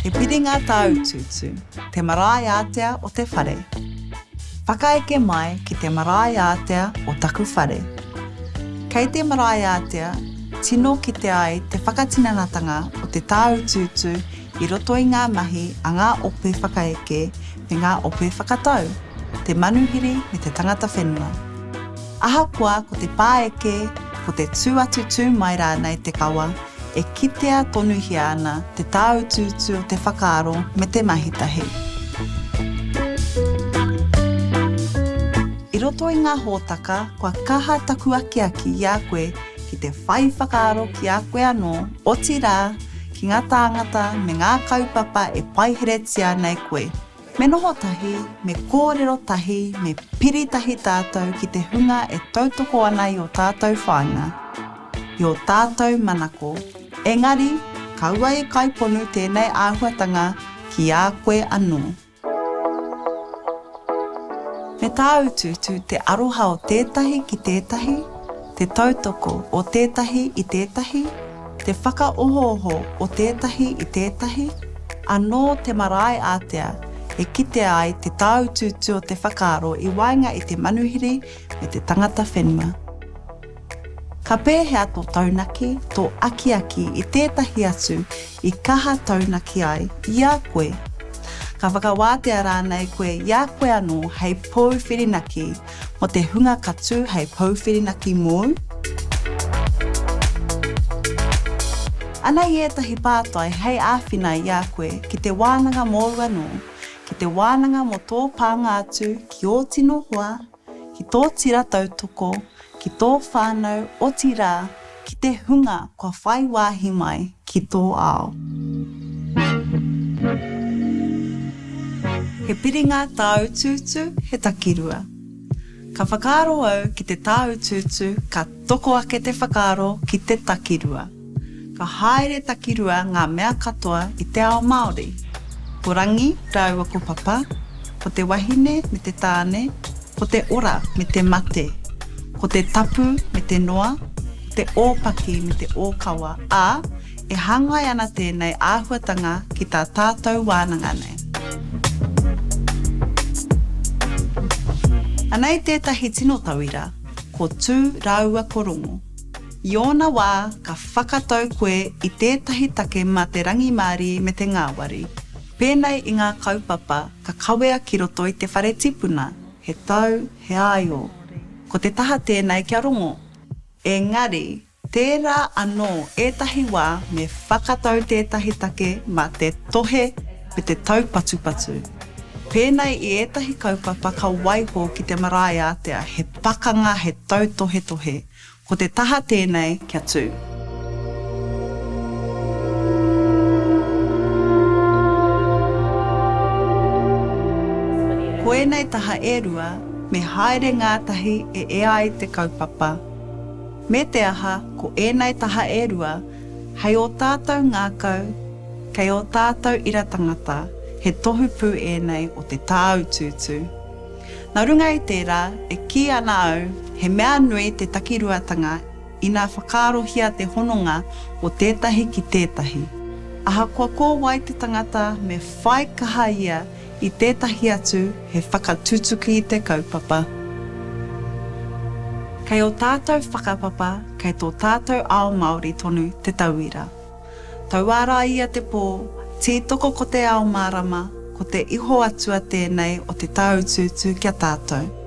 He piri ngā tāutuutu, te marae ātea o te whare. Whakaeke mai ki te marae ātea o taku whare. Kei te marae ātea, tino kite ai te whakatinanatanga o te tāutuutu I roto i ngā mahi a ngā ope whakaeke me ngā ope whakatau, te manuhiri me te tangata whenua. Ahakoa ko te pāeke, ko te tū atu tū mai rānei te kawa, e kitea tonuhia ana te tāutuutu o te whakaaro me te mahi tahi. I roto i ngā hōtaka kua kaha taku akiaki i a koe ki te whai whakaaro ki a koe anō, otirā, ki ngā tāngata me ngā kaupapa e paiheretia ana e koe. Me noho tahi, me kōrero tahi, me piri tahi tātou ki te hunga e tautoko ana i ō tātou whāinga, i ō tātou manako, engari, kaua e kaiponu tēnei āhuatanga ki a koe anō. Me tāutuutu te aroha o tētahi ki tētahi, te tautoko o tētahi i tētahi, te whakaohooho o tētahi i tētahi, anō te marae ātea e kitea ai te tāutuutu o te whakaaro i waenga i te manuhiri me te tangata whenua. Ka pēhea tō taunaki, tō akiaki i tētahi atu i kaha taunaki ai i a koe? Ka whakawātea rānei koe i a koe anō hei pou whirinaki mō te hunga ka tū hei pou whirinaki mōu? Anei ētahi pātai hei āwhina i a koe ki te wānanga mōu anō, ki te wānanga mō tō pānga atu ki ō tino hoa, ki tō tira tautoko, ki tō whānau, otirā, ki te hunga kua whai wāhi mai ki tō ao. He piringa tāutuutu, he takirua. Ka whakaaro au ki te tāutuutu ka. Toko ake te whakaaro ki te takirua. Ka haere takirua ngā mea katoa i te ao Māori. Ko Rangi rāua ko Papa, ko te wahine me te tāne, ko te ora me te mate, ko te tapu me te noa, ko te ōpaki me te ōkawa, ā, e hāngai ana tēnei āhuatanga ki tā tātou wānanga nei. Anei tētahi tino tauira. ko Tū rāua ko Rongo. I ōna wā, ka whakatau koe i tētahi take mā te rangimārie me te ngāwari. Pēnei i ngā kaupapa ka kawea ki roto i te whare tipuna, he tau, he āio. Ko te taha tēnei kia rongo. Engari, Tērā anō ētahi wā me whakatau tētahi take mā te tohe me te taupatupatu. Pēnei i ētahi kaupapa ka waiho ki te marae ātea he pakanga he tautohetohe, ko te taha tēnei kia tū. Ko ēnei taha e rua me haere ngātahi e ea ai te kaupapa. Me te aha, ko ēnei taha e rua, hei ō tātou ngākau, kei ō tātou ira tangata, he tohu pū ēnei o te tāutuutu. Nā runga i tērā, e kī ana au, he mea nui te takiruatanga ina whakaarohia te hononga o tētahi ki tētahi. Ahakoa ko wai te tangata, me whai kaha ia I tētahi atu he whakatutuki i te kaupapa. Kei ō tātou whakapapa, kei tō tātou ao Māori tonu te tauira. Tauā rā ia te pō, tītoko ko te ao mārama, ko te iho atua tēnei o te tāutuutu ki a tātou.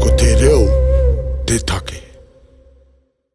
Ko te reo te take.